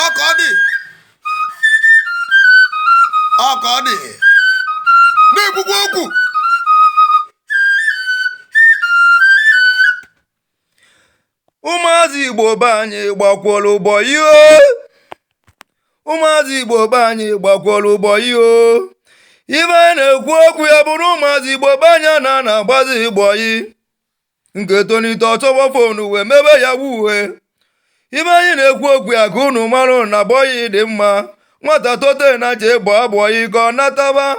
ọka ọ dị ọka ọ dị na-ekwukwa okwu ụmụazị igbo be anyị gbakwọrọ bọyị ụmụazị igbo be anyị gbakwọrọ bọyị ife anyị na-ekwu okwu ya bụrụ ụmụazị igbo be anyị na na-agbazi bọyị nke tolite ọ chọba fonu wee mebe yahoo ife anyị na-ekwu okwu ya ka unu mara na bọyị dị mma nwata tote na je gbaa bọyị ka ọ nataba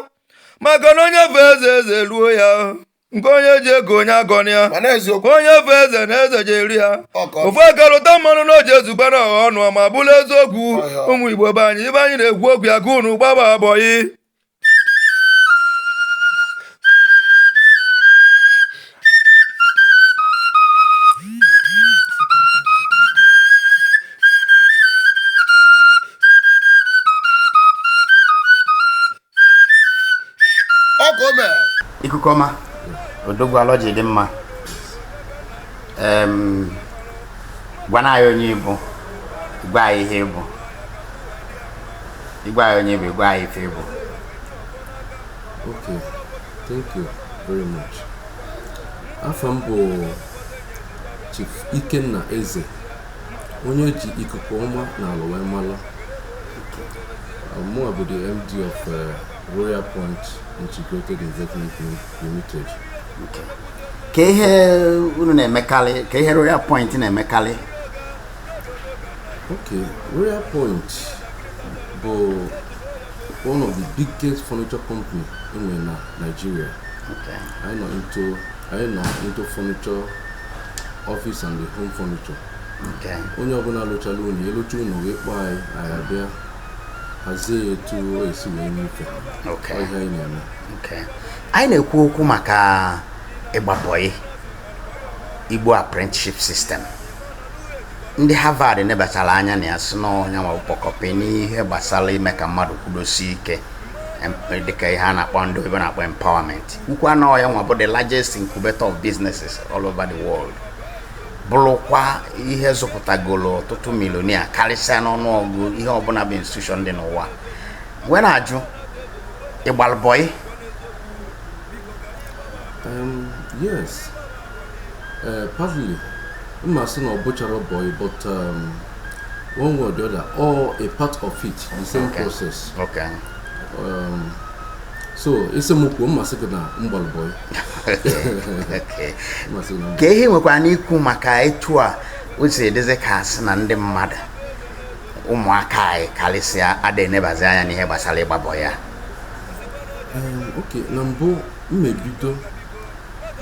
maka na onye fe eze eze ruo ya nke onye ji ego onye agọna ya mana eziokwu onye fe eze na eze je-eru ya okay ofu aka rụta mmanụ na ọ je-ezuba na ọha ọnụ ma bụrụ eziokwu Ọ ya. ụmụ igbo be anyị ife anyị na-ekwu okwu ya ka unu gbaba bọyị ikuku ọma odogwu alọ ji dị mma gwanụ anyị onye ị bụ gwa anyị ihe ị bụ gwa anyị onye ị bụ gwa anyị ife ị bụ okay thank you very much afa m bụ chief ikenna eze onye ji ikuku ọma na alọ wee mara mụ bụ the md of uh, royal point integrated investment limited kee ihe unu na-emekarị kee ihe royal point na-emekarị Okay, Royal Point bụ one of the biggest furniture company e nwere na Nigeria. Okay. Anyị nọ into anyị nọ into furniture office and the home furniture. Okay. Onye ọbụla lụchala ụnọ alụcha ụnọ wee kpọọ anyị anyị abịa hazie ya etu e si wee nyefe. Okay. Ọ ihe anyị na-eme. Okay. Anyị na-ekwu okwu maka ịgba bọyị Igbo apprenticeship system. ndị Harvard nebachara anya na ya sị na ya nwa bụ ọkpọkọpi n'ihe gbasara ime ka mmadụ kwụdosie ike dịka ihe a na-akpọ ndị oyibo na-akpọ empowerment kwuo na ọ ya nwa bụ the largest incubator of businesses all over the world bụrụkwa ihe zụpụtagolo ọtụtụ millionaire karịsịa n'ọnụọgụ ihe ọbụla bụ institution dị n'ụwa wee na-ajụ ị gbalụ bọyị yes Uh, partly, I'm not saying ọ bụcha boy, but um, one way or the other, or a part of it, the same okay. process. Okay. Um, so asị m kwuo m asị gị na m gbalụ bọị ke ihe i nwekwanụ ikwu maka etu a o si dịzi ka asị na ndị mmadụ ụmụaka anyị karịsịa ada enebazi anya n'ihe gbasara ịgba bọị a okay na mbụ m ebido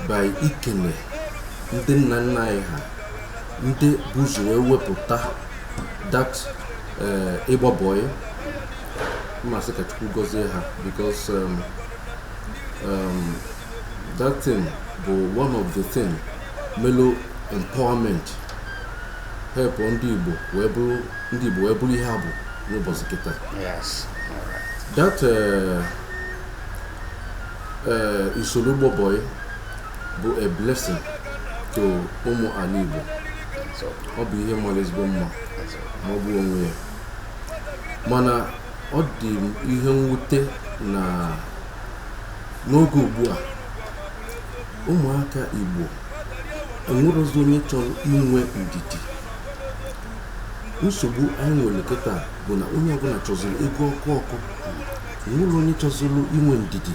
by ikene ndị nna nna anyị ha ndị bu ụzọ wee wepụta that eh, ịgba bọị m asị ka chukwu gọzie ha because um, um, that thing bụ one of the thing melụ empowerment help ndị igbo wee bụrụ ihe ha bụ n'ụbọchị kịta Yes. All right. that uh, ee usoro ịgba bọị bụ a blessing to ụmụ ala Igbo ọ bụ ihe mara ezigbo mma ma ọ bụ onwe ya mana ọ dị m ihe mwute na n'oge ugbu a ụmụaka Igbo enwerọzi onye chọrọ inwe ndidi nsogbu anyị nwere kịta bụ na onye ọbụna chọziri ego ọkụ ọkụ enwerọ onye chọziri inwe ndidi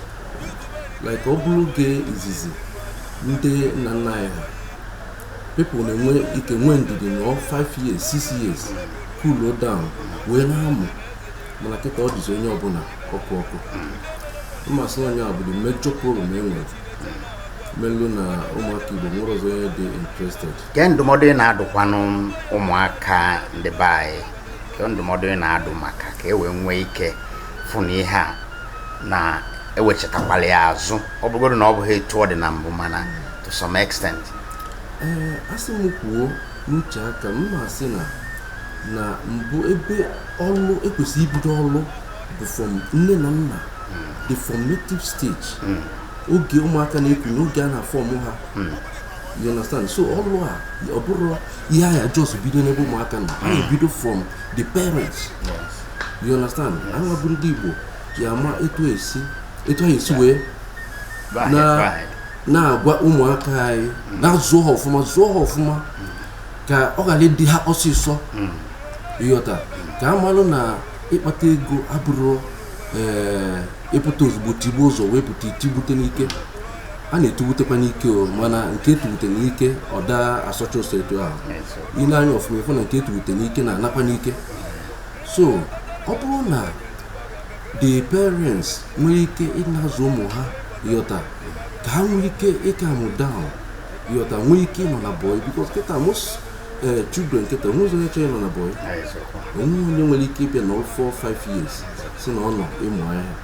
like ọ bụrụ oge izizi ndị nna nna anyị ha people na-enwe ike nwee ndidi nọọ 5 years 6 years cool down wee na-amụ mana kịta ọ dịzi onye ọbụna ọkụ ọkụ m asị na ọ nya bụ the major problem e nwere melụ na ụmụaka igbo enwerọzi onye dị interested ke ndụmọdụ ị na-adụkwanụ ụmụaka ndị be anyị ke ndụmọdụ ị na-adụ maka ka e wee nwee ike fụ na ihe a na ewechatakwalụ ya azụ ọ bụlụgodu na ọ bụghị etu ọ dị na mbụ mana to some extent ee asị m kwuo n'uche aka m m asị na na mbụ ebe ọlụ e kwesị ibido ọlụ bụ from nne na nna the formative stage oge ụmụaka na-ekwu na oge a na-afọmụ ha you understand so ọlụ a ọ bụrọ ihe a ya just bido n'ebe ụmụaka nọ a ya-ebido from the parents you understand anyị bụ ndị Igbo ya-ama etu esi etu anyị esi wee na-agwa ụmụaka anyị mm. na-azụ ha ọfụma zụọ ha ọfụma mm. ka ọ ghara ịdị ha ọsịsọ mm. ịghọta ka a malụ na ịkpata ego abụrọ eh, ịpụta ozugbo tigbuo ụzọ wee pụta itigbute n'ike a na-etuwutekwa n'ike o mana nke etuwute n'ike ọ daa asọcha ụsọ etu ahụ i lee anya ọfụma ị fụ na nke etuwute n'ike na-anakwa n'ike so ọ bụrụ na the parents nwere ike ịna-azụ ụmụ ha ịghọta ka ha nwee ike ịcalm down ịghọta nwee ike ịnọ na boy because kịta most eh, children kịta onwezịrọ onye chọrọ ịnọ na boy onwe onye nwere ike ịbịa na 4 5 years sị na ọ nọ ịmụ ahịa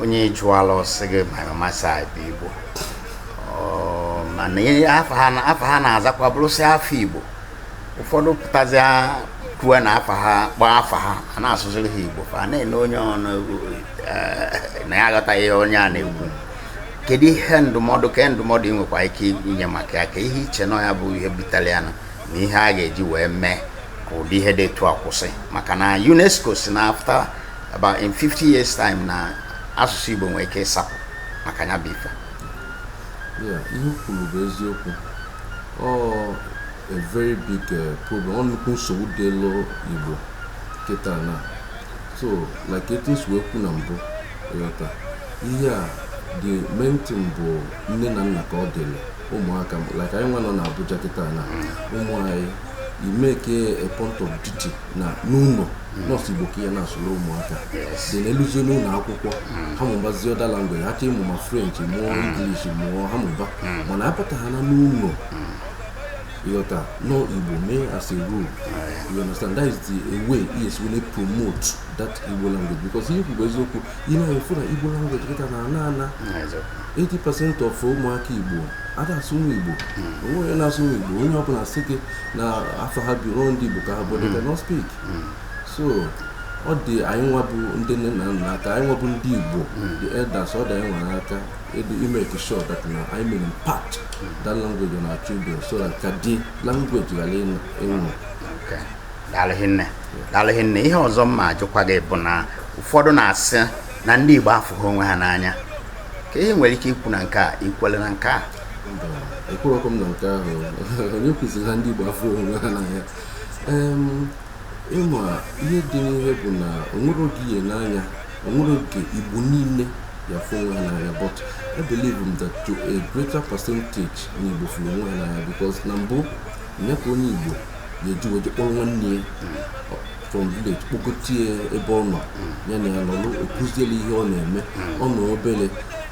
onye ị jụọla ọ sị gị my mama side bụ igbo mana afa ha na-azakwa bụrụsị afa igbo ụfọdụ pụtazia kwue na afa ha kpọọ afa ha a na-asụziri ha igbo fa na-ele onye ọnụ eh, na ya aghọtaghị onye a na-ekwu kedu ihe ndụmọdụ kee ndụmọdụ ị nwekwa ike inye maka ya kee ihe i che na ya bụ ihe butere ya na ihe a ga-eji wee mee ka ụdị ihe dị etu a kwụsị maka na UNESCO sị na after about in 50 years time na asụsụ Igbo nwere ike ịsapụ maka ya bụ ife ihe i kwuru bụ eziokwu ọ a very big eh, problem ọ nnukwu nsogbu dịrị Igbo kịta na so like etu m si wee kwu na mbụ ịghọta ihe a the main thing bụ nne na nna ka ọ dịrị ụmụaka like anyị nwa nọ na Abuja kịta na ụmụ anyị i make a, a point of duty na n'ụlọ na ọ sọ igbo ka ị ya na-asụrụ ụmụaka then ha eluzie n'ụlọ akwụkwọ ha mụbazie other language ha chọọ ịmụ ma french mụọ english mụọ ha mụba mana anata ha na n'ụlọ ịghọta na ọ igbo mee as a rule you understand that is the way ị ya-esi wee promote that igbo language because ihe i kwuru bụ eziokwu ị na-afụ na igbo language kịta na ana ana 80% of ụmụaka igbo adaa asụnwu igbo onwe onye na-asụnwu igbo onye ọbụla sị gị na afọ ha bi ndị Igbo ka ha bụ they cannot speak hmm. so ọ dị anyị nwa bụ ndị nne na nna aka anyị nwa bụ ndị Igbo hmm. the elders ọ dị anyị nwa aka i make sure that na anyị mere impact that language on our children so that ka the language ghara ịnwụ daalụ rinne daalụ rinne ihe ọzọ m ma ajụkwa gị bụ na ụfọdụ na-asị na ndị Igbo afụghị onwe ha n'anya kee ihe i nwere ike ikwu na nke a i kwelu na nke a ekwerọkwa m na nke ahụ onye kwuziri na ndị Igbo afụghị onwe ha n'anya ị ma ihe dị n'ihe bụ na onwere oge ịhụnanya onwere oge Igbo niile ya-afụ onwe ha n'anya but I believe that to a greater percentage na Igbo fụrụ onwe ha n'anya because na mbụ nya ka onye Igbo ga-eji wee kpọrọ nwanne ya from village kpọgota ya ebe ọ nọ ya na ya nọrọ ọ kụziela ihe ọ na-eme ọ nọ obere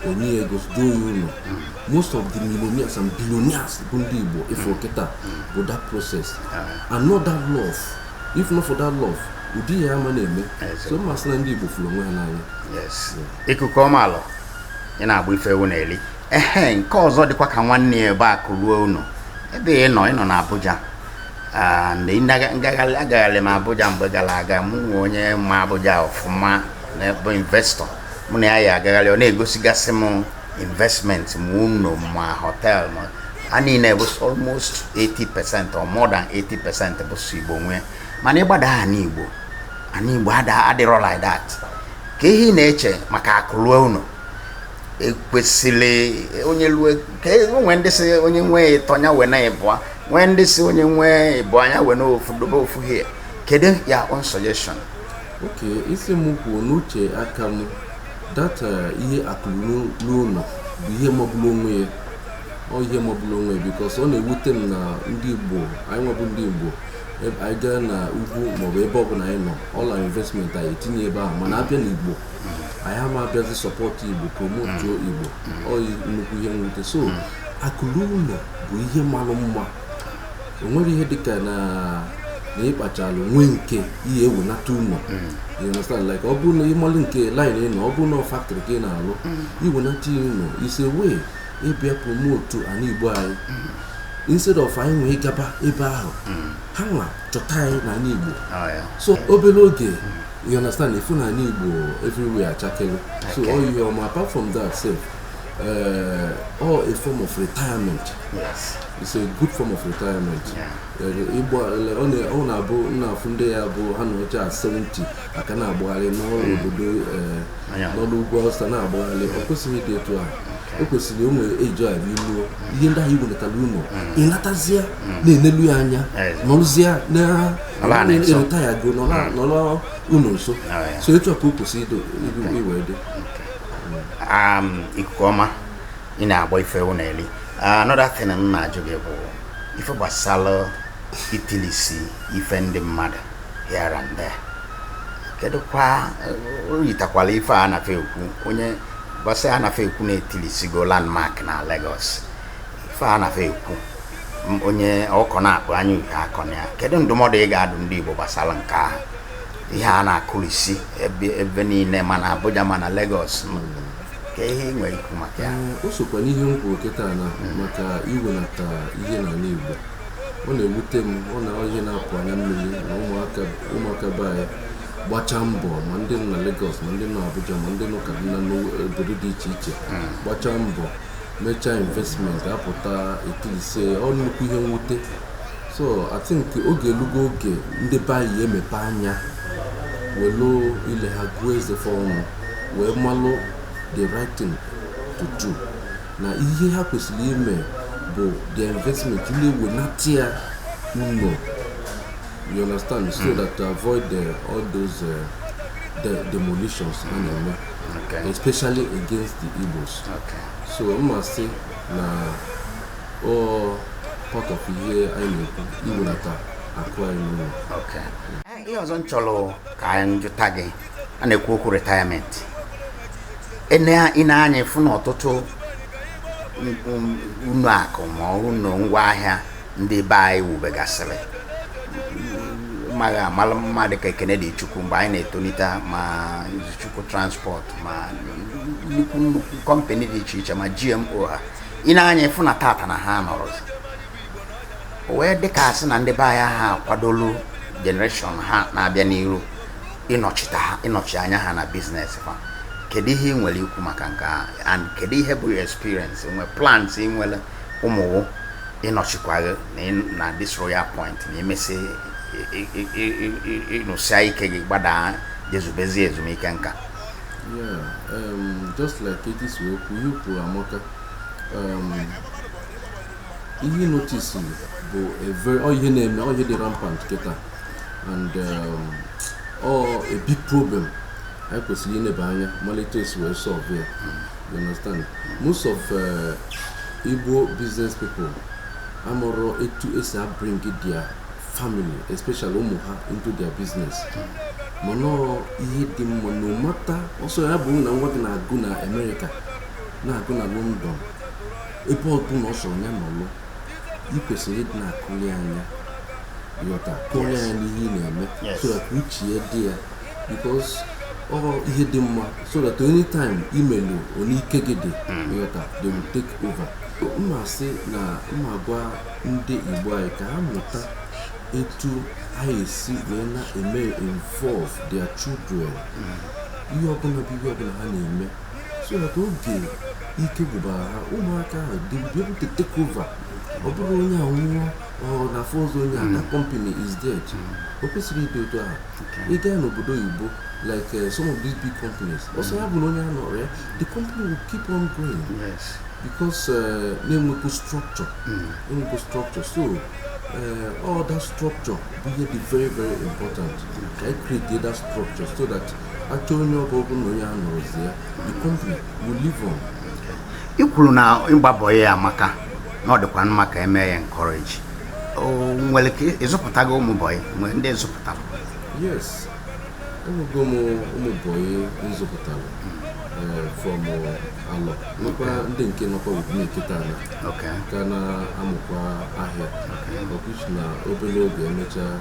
o nye ya ego duo ya ụlọ most of the millionaires and billionaires bụ ndị igbo ị fụ kịta bụ that process and not that love if not for that love ụdị ihe a ama na-eme so mmasị na ndị igbo fụrụ onwe ha n'anya yes ikuku ọma alọ ị na-agba ife ewu na-eli ehe nke ọzọ dịkwa ka nwanne ya ebe akụ ruo ụnọ ebe ị nọ ị nọ na Abuja Ah, mgbe ị naga- ngagharị agagharị m Abuja mgbe gara aga mụ na onye ma Abuja ọfụma na- bụ investor mụ na ya ya agagharị ọ na-egosigasị m investment ma ụlọ ma hotel ma ha niile bụ s- almost 80% or more than 80% bụ sọ Igbo nwee mana ị gbadaa ana Igbo ana Igbo ada- adịrọ like that kee ihe ị na-eche maka akụ lue ụnọ ekwesịrị onye lue ka e, o nwee ndị sị onye nwee ịtọ nya wena ịbụa nwee ndị sị onye nwee ịbụa nya wena ofu dobe ofu here kedu your own suggestion okay ị sị m kwuo n'uche aka m that eh, ihe akụ ruo ụlọ bụ ihe magburu onwe ya ọ ihe magburu onwe ya because ọ na-ewute m na ndị igbo anyị nwa bụ ndị igbo anyị gaa na ugwu maọbụ ebe ọbụla anyị nọ all our investment anyị etinye ebe ahụ mana a bịa n'igbo anyị ama abịazi support igbo promotuo mm. igbo mm. ọ nnukwu ihe nwute so mm. akụ luo ụlọ bụ ihe malụ mma o nwere ihe dịka na na ịkpachalụ nwee nke ihe ewenata ụlọ you understand like ọ bụrụ na ị malụ nke line ị nọ ọ bụrụ na factory ka ị na-alụ i wenata ya ụlọ is a way ịbịa promote ana igbo anyị instead of anyị iwe gaba ebe ahụ ha nwa chọta anyị na ana igbo oh, so obere oge you understand ị fụ na ana igbo everywhere achakelu so all you um, apart from that sef uh, ọ a form of retirement yes. it's a good form of retirement igbo ọ na-abụ ị na-afụ ndị ya bụ ha nọchaa 70 ha ka na-agbagharị n'ọrụ hmm. obodo uh, n'ọrụ ugwu awụsa na-agbagharị ọ kwesịghị ịdị etu ahụ ekwesịrị o nwere age a i luo ihe ndị ahụ i welatara ụlọ ị natazie na-enelu ya anya nọrụzie na Ala a na-eso. e retire go nọ na- nọ n'ụlọ nso Ah, ya. so etu a ka o kwesịrị ido ido- iwe dị um, ikuku ọma ị na-agba ife ewu na-eli another thing m na-ajụ gị bụ ife gbasara itilisi ife ndị mmadụ here and there kedu kwa eh, o yitakwala ife a nafe ekwu onye gbasa a nafe ekwu na etilisigo landmark na Lagos ife a na-afa ekwu m onye ọkọ na-akpụ anya uke akọ na ya kedu ndụmọdụ ị ga-adụ ndị Igbo gbasara nke ahụ ihe a na-akụrisi ebe ebe niile ma na Abuja ma na Lagos ke ihe ị nwere ikwu maka ya Ee, o sokwa n'ihe m kwuru kịta na maka iwenata ihe n'ala Igbo ọ na-ewute m ọ na ihe na-apụ anya mmiri na ụmụaka ụmụaka be anyị gbachaa mbọ ma ndị nọ na Lagos ma ndị nọ Abuja ma ndị nọ Kaduna n'obodo dị iche iche gbachaa mbọ mechaa investment a pụta etilisie ọ nnukwu ihe mwute so I think oge elugo oge ndị be anyị emepe anya welu ile ha gụọ eze fa ọnụ wee malụ the right thing to do na ihe ha kwesịrị ime bụ the investment ịna-ewenata ya ụlọ you understand so that to avoid the, all those uh, the demolitions a na-eme especially against the Igbos so m ma-asị na ọ part of ihe anyị na-ekwu iwelata akụ anyị n'ụlọ ihe ọzọ m chọrọ ka anyị jụta gị a na-ekwu okwu retirement i nee anya ị fụ na ọtụtụ ụnọ akụ ma ụnọ ngwa ahịa ndị be anyị wubegasịrị ma ndị a malụ ama dịka Ekene Dili Chukwu mgbe anyị na-etolite ma chukwu transport ma nnukwu nnukwu kọmpani dị iche iche ma GMO ha i nee anya ị fụ na tata na ha anọrọzi o wee dịka a sị na ndị be anyị ha akwadolu generation ha na-abịa n'iru ịnọchite ha ịnọchi anya ha na biznes fa kedu ihe ị nwere ikwu maka nke a and kedu ihe bụ your experience nwe plans ị nwere ụmụ wụ ịnọchikwa gị na this royal point na i mesịa ị nụsịa ike gị gbadaa jee zubezie ezumike nka um, just like etu i si wee kwuo ihe i kwuru amaka um, ihe ị notice bụ ihe na-eme ọ ihe dị rampant kịta and um, ọ a big problem anyị kwesịrị ineba anya malụ etu e si wee solve ya hmm. You understand? Most of uh, Igbo business people amụrọ etu e si abring their family especially ụmụ ha into their business mana ọrọ ihe dị mma no matter ọ sọ ya bụ na nwa gị na-agụ na Amerịka na-agụ na London ebe ọbụna ọ sọ ya nọlụ ị kwesịrị ịdị na-akụli anya ịghọta kụli anya n'ihe ị na-eme so that uche ya dị ya because ọ ihe dị mma so that anytime imelu onye ike gị dị ịghọta they will take over m na-asị na m na-agwa ndị igbo anyị ka ha mụta etu anyị esi wee na-eme involve their children ihe ọbụla bụ ihe ọbụla ha na-eme so that oge ike gwụbara ha ụmụaka ahụ they will be able to take over ọ bụrụ onye a nwụọ ọ na afọ ọzọ onye a that company is dead o kwesịrọ ịdị otu ahụ ị gaa n'obodo oyibo like uh, some of these big companies ọ sọ ya bụ na onye anọrọ ya the company will keep on going yes. because uh, na-enwekwu structure mm. enwekwu structure so uh, all that structure bụ ihe dị very very important ka anyị create that structure so that achọ onye ọ bụ ọ bụ na onye anọrọzi ya the company will live on ị kwuru na ịgba bọyị amaka na ọ dịkwa mma ka emee ya encourage nwere ike ị zụpụtago ụmụ bọyị nwere ndị ị zụpụtara yes enwego m ụmụ bọyị m zụpụtara eh, from eh, a lot nwekwa ndị nke nọkwa with me kịta na ka na-amụkwa ahịa of which na obere oge emechaa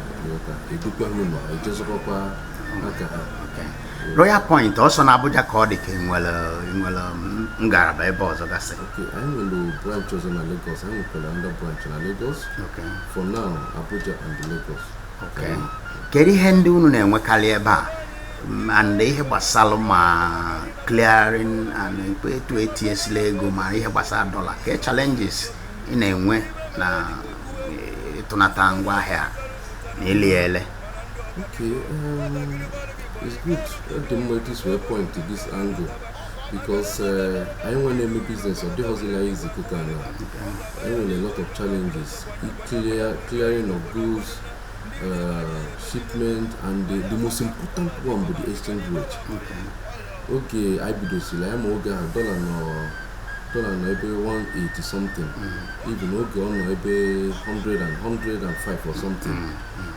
edukwa ha ụlọ eje zụkwakwa aka ha Royal Point ọ sọ na Abuja ka ọ dị ka nwere nwere ngalaba ebe ọzọ gasị Okay, anyị nwere branch ọzọ na Lagos anyị nwekwara ndị branch na Lagos Okay. for now Abuja and Lagos Okay. kedu ihe ndị unu na-enwekarị ebe a M- and ihe gbasara ma clearing and ikpe etu etinyesila ego ma ihe gbasara dọla kee challenges ị na-enwe na eh, ịtụnata ngwaahịa na ili ya ele Okay, um, it's good. Ọ dị mma etu i si wee point to this angle because uh, anyị nwa na-eme business ọ dịghịzi easy kịta na anyị nwere a lot of challenges clear clearing of goods uh, shipment and the, the most important one bụ the exchange rate oge anyị bidosiri anyị ma oge ahụ dọla nọ dọla nọ ebe 180 something even oge ọ nọ ebe 100 and 105 or something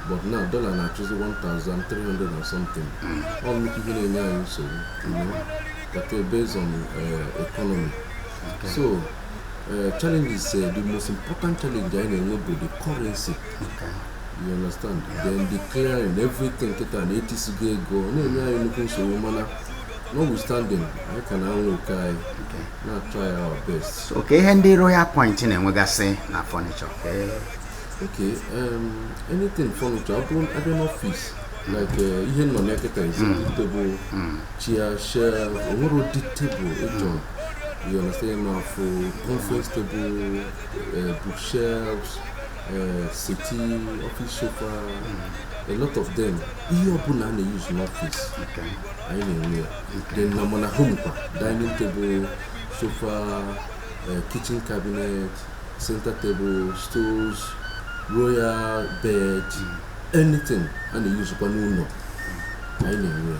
but now dollar na-achụzi 1300 or something ọ nnukwu ihe na-enye anyị nsogbu you know that uh, based on uh, economy so uh, challenges uh, the most important challenge anyị na-enwe bụ the currency you understand then the clearing everything kịta na etisigo ego ọ na-enye anyị nnukwu nsogbu mana notwithstanding anyị ka na-anwa oko anyị na-atry our best kee ihe ndị Royal Point na-enwegasị na furniture Okay, um, anything furniture, ọ bụrụ a bịa n'ọfịs like uh, ihe nọ n'eketa is table chair shelf o nwere ụdị table ị chọ you understand ma ọ bụ conference table uh, bookshelves uh, settee office sofa a lot of them ihe ọbụla a na-use n'ọfịs Okay. anyị na-enwe ya then na ma na home kwa dining table sofa uh, kitchen cabinet center table stools royal bed anything a na-eyuzukwa n'ụlọ anyị na-enwe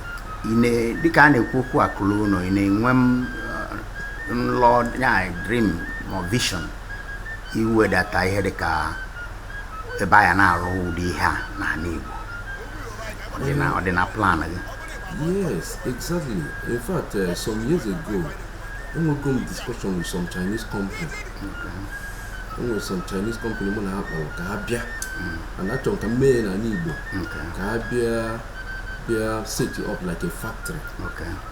ị na- dịka a na-ekwu okwu akụ luo ụnọ ị na-enwe em uh, nlọ ya dream or vision iwedata ihe dịka ebe a ya na-arụ ụdị ihe a n'anị Igbo Ọ dị na- ọ dị na plan gị yes exactly in fact uh, some years ago enwego m discussion with some Chinese company e nwere some Chinese company mụ na ha kpara ka ha bịa and achọrọ ka m mee ya n'anị Igbo ka ha bịa bịa set up like a factory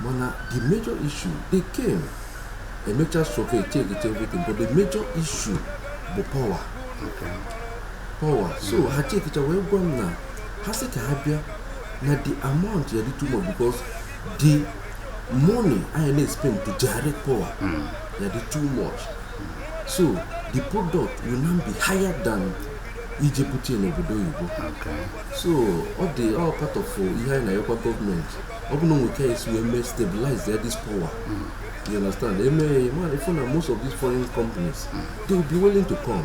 mana the major issue they came mecha survey chekicha everything but the major issue bụ power power so ha chekicha wee gwa m na ha sị ka ha bịa na the amount ya-adị too much because the money anyị na-espend to generate power ya-adị too much so the product will now be higher than ije bute ya n'obodo oyibo Okay. so ọ dị all part of uh, ihe anyị na-ayọkwa gọọmenti ọ bụ na o nwe ka e si wee mee stabilize ya this power you understand e mee ya ma ị fụ na most of these foreign companies they will be willing to come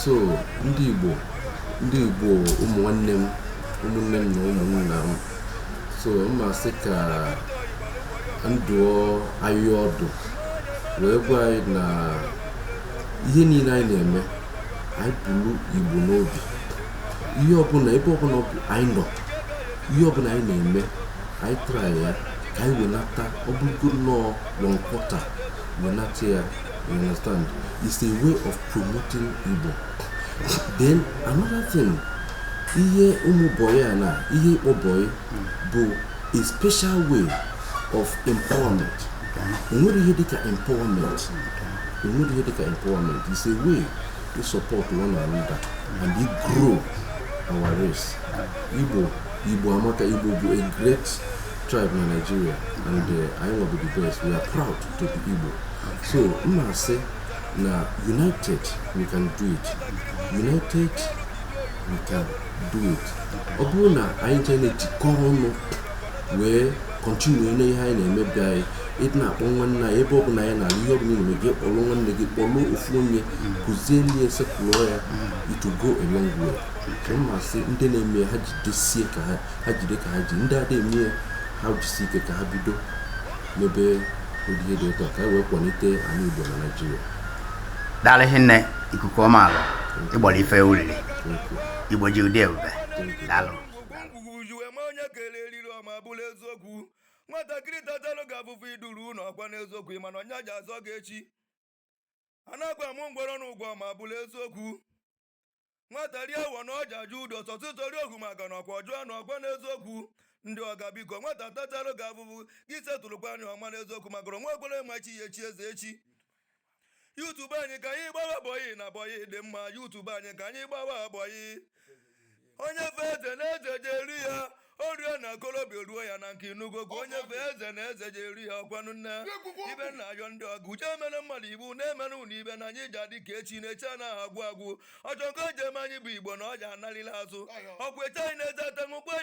so ndị Igbo ndị Igbo ụmụ nwanne m ụmụnne m na ụmụnna m so m ma-asị ka m dụọ anyị ọdụ wee gwa anyị na ihe niile anyị na-eme anyị bulu Igbo n'obi ihe ọbụla ebe ọbụla anyị nọ ihe ọbụla anyị na-eme anyị try ya ka anyị wenata ọ bụrụgo nnọọ one quarter wenata ya You understand? It's a way of promoting Igbo. Then another thing, ihe ịmụ bọyị a na ihe ịkpọ bọyị bụ a special way of empowerment. Enwere ihe dịka empowerment. Enwere ihe dịka empowerment. It's a way to support one another and we grow our race. Igbo Igbo amaka Igbo bụ a great tribe na Nigeria and uh, anyị nwa bụ the best. We are proud. Igbo so m na-asị na united we can do it united we can do it ọ bụrụ na anyị jee na-ejikọrọ ọnụ wee continue na ihe anyị na-emebu anyị ịdị na-akpọ nwanne anyị ebe ọ bụla anyị na-alụ ihe ọ bụla na-eme gị kpọrọ nwanne gị kpọrọ ofu onye kụzieli e settle ya it will go a long way so m na-asị ndị na-eme ya ha jidesie ka ha ha jide ka ha ji ndị ada eme ya ha jisi ike ka ha bido mebe ụdị ihe dị otu a ka e wee kwalite ala Igbo na Naịjirịa daalụ hinne ikuku ọma alụ ịgbara ife ulili Igbo ji ụdị ebube daalụ onye kele eriri ọma bụlụ eziokwu nwatakịrị tatalụ gị afụfụ iduru ụlọ ọkwa n'eziokwu mana ọ nya ja-azọ gị echi anakwa m ngwọrọ n'ụgwọ ma bụrụ eziokwu nwata rie awọ na ọ ja-ajụ udo sọtụ tori ohu maka na ọkwa ọjụọ na ọkwa n'eziokwu ndị ọga biko nwata tatalụ gị afụfụ gị setụlụkwa nya ọma n'eziokwu maka na nwa ekwere ma chi ya echi eze echi youth be anyị ka anyị gbawa bọyị na bọyị dị mma youth be anyị ka anyị gbawa bọyị onye fe eze na eze je-eru ya orie na okolobịa ruo ya na nke inugogo onye fe eze na eze je-eru ya ọkwanụ nne ibe na-ayọ ndị ọga uche emere mmadụ iwu na-emere unu ibe na anyị ji adị ka echi na echi anaghị agwụ agwụ ọchọ nke o ji eme anyị bụ Igbo na ọ ji analịla azụ ọkwa eche anyị na-eze ata ṅụkwa ya